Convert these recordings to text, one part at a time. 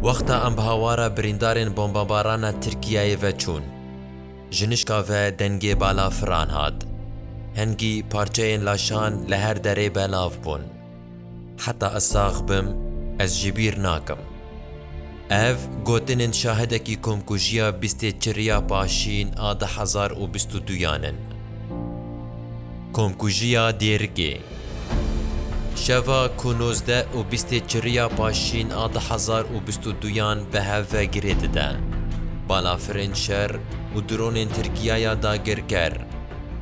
Wexta em bi hawara birîndarên bombabarana Tirkiyeyê ve çûn, ji nişka ve dengê balafiran hat. Hingî parçeyên laşan li her derê belav bûn. Heta ez sax bim, ez jî bîr nakim. Ev gotinên şahidekî komkujiya bîstê çirya paşîn a du hezar û bîst û duyan in. Komkujiya Dêrikê. Şeva ku nozdeh û bîstê çiriya paşîn a du hezar û bîst û duyan bi hev ve girê dide. Balafirên şer û dronên Tirkiye ya dagirker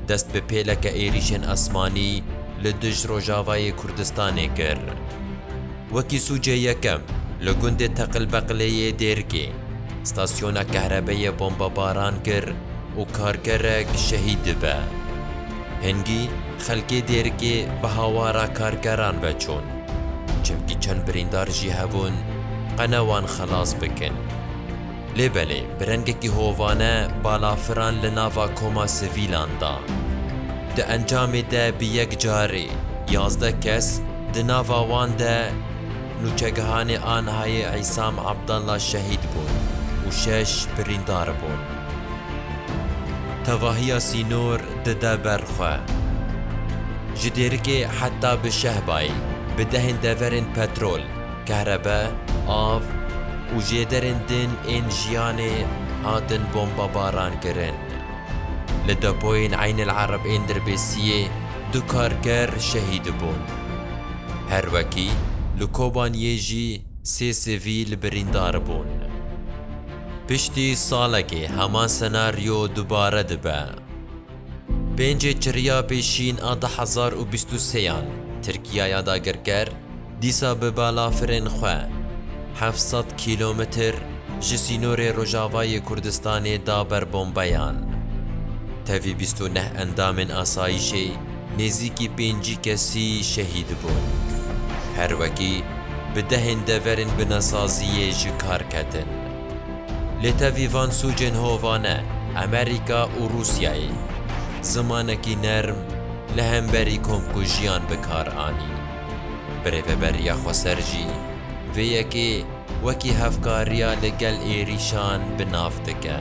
dest bi pêleke êrîşên esmanî li dij Rojavayê Kurdistanê kir. Wekî sûcê yekem li gundê Teqilbeqilê yê Dêrkê stasyona kehrebeyê bombebaran kir û karkerek şehîd dibe. Hingî, Xelkê Dêrikê bi hawara karkeran ve çûn, çimkî çend birîndar jî hebûn qene wan xelas bikin. Lê belê bi rengekî hovane balafiran li nava koma sivîlan da. Di encamê de bi yek carî yazdeh kes di nava wan de nûçegihanê Anhayê Îsam Abdallah şehîd bûn û şeş birîndar bûn. Tevahiya sînor dide ber xwe. Ji dêrikê heta bi Şehbayê bi dehên deverên petrol, kehrebe, av û jêderên din ên jiyanê hatin bombebarankirin. Li depoyên Eyn El Arab ên Dirbêsiyê du karker şehîd bûn. Her wekî li Kobaniyê jî sê sivîl birîndar bûn. Piştî salekê heman senaryo dubare dibe. Pêncê çirriya pêşîn a du hezar û bîst û sêyan Tirkiya ya dagirker dîsa bi balafirên xwe heft sed kîlometr ji sînorê Rojavayê Kurdistanê da ber bombeyan. Tevî bîst û neh endamên asayîşê nêzîkî pêncî kesî şehîd bûn. Her wekî bi dehên deverên binasaziyê ji kar ketin. Lê tevî van sûcên hova ne Amerîka û Rûsyayê zimanekî nerm li hemberî komkujiyan bi kar anî. Birêveberiya Xweser jî vê yekê wekî hevkariya li gel êrîşan bi nav dike.